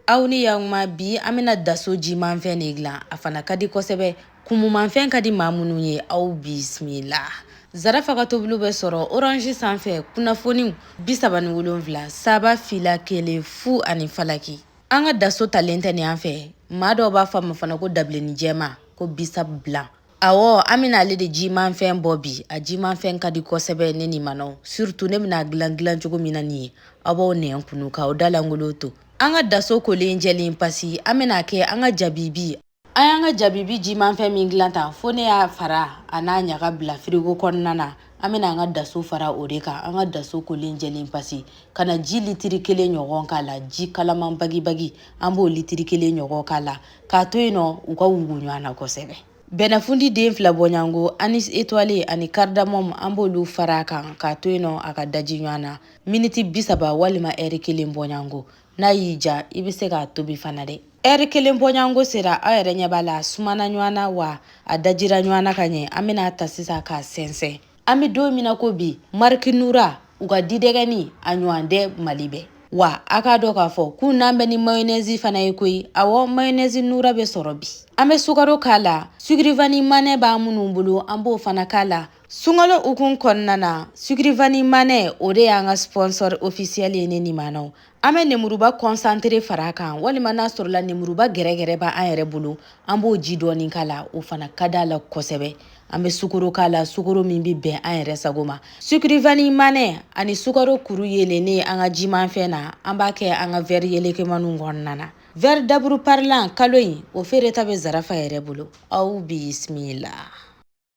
aw ni yakuma bi an bɛna daso jimanfɛn de dilan a fana ka di kosɛbɛ kumumanfɛn ka di maa minnu ye aw bisimila zarafa ka tobili bɛ sɔrɔ orange sanfɛ kunnafoniw bi saba ni wolonwula saba fila kelen fu ani falaki an ka daso talen tɛ nin an fɛ maa dɔw b'a fɔ a ma fana ko dabilenni jɛma ko bissap blanc Awɔ an bɛna ale de jimanfɛn bɔ bi a jimanfɛn ka di kosɛbɛ ne nimanaw surutu ne bɛna dilan dilan cogo min na nin ye aw b'aw nɛn kunun ka aw dalangolo to an ka daso kolen jɛlen pasi an bɛna kɛ an ka jabibi an y'an ka jabibi jimanfɛn min dilan tan fo ne y'a fara a n'a ɲaga bila firigo kɔnɔna na an bɛna an ka daso fara o de kan an ka daso kolen jɛlen pasi ka na ji litiri kelen ɲɔgɔn k'a la ji kalaman bagibagi an b'o litiri kelen ɲɔgɔn k'a la k'a to yen nɔ u ka wugu ɲɔgɔn na kosɛbɛ bɛnɛfundi den fila bɔɲango anis étoilé ani karidamɔmu an b'olu fara a kan k'a to yen nɔ a ka daji ɲɔgɔn na miniti bi saba walima ɛri kelen bɔɲango n'a y'i ja i bɛ se k'a tobi fana dɛ ɛri kelen bɔɲango sera aw yɛrɛ ɲɛ b'a la a sumana ɲɔgɔn na wa a dajira ɲɔgɔn na ka ɲɛ an bɛna a ta sisan k'a sɛnsɛn an bɛ don min na ko bi mariki nura u ka didɛgɛni a ɲɔgɔn tɛ mali bɛɛ wa a k'a dɔn k'a fɔ k'u nanen bɛ ni mayonɛzi fana ye koyi awɔ mayonɛzi nura bɛ sɔrɔ bi an bɛ sukaro k'a la sucre vanille manɛ b'an minnu bolo an b'o fana k'a la sunkalo hukumu kɔnɔna na sucre vanille manɛ o de y'an ka sponsor ofisiyɛli ye ne nimanaw an bɛ nemuruba kɔnsantere fara a kan walima n'a sɔrɔla nemuruba gɛrɛgɛrɛ b'an yɛrɛ bolo an b'o ji dɔɔni k'a la o fana ka d'a la kosɛbɛ an bɛ sukaro k'a la sukaro min bɛ bɛn an yɛrɛ sago ma sucre vanille manɛ ani sukaro kuru yeelennen an ka jimanfɛn na an b'a kɛ an ka vɛri yelekemaniw kɔnɔna na vɛri daburu parilan kalo in o feereta bɛ zarafa yɛrɛ bolo aw bisimila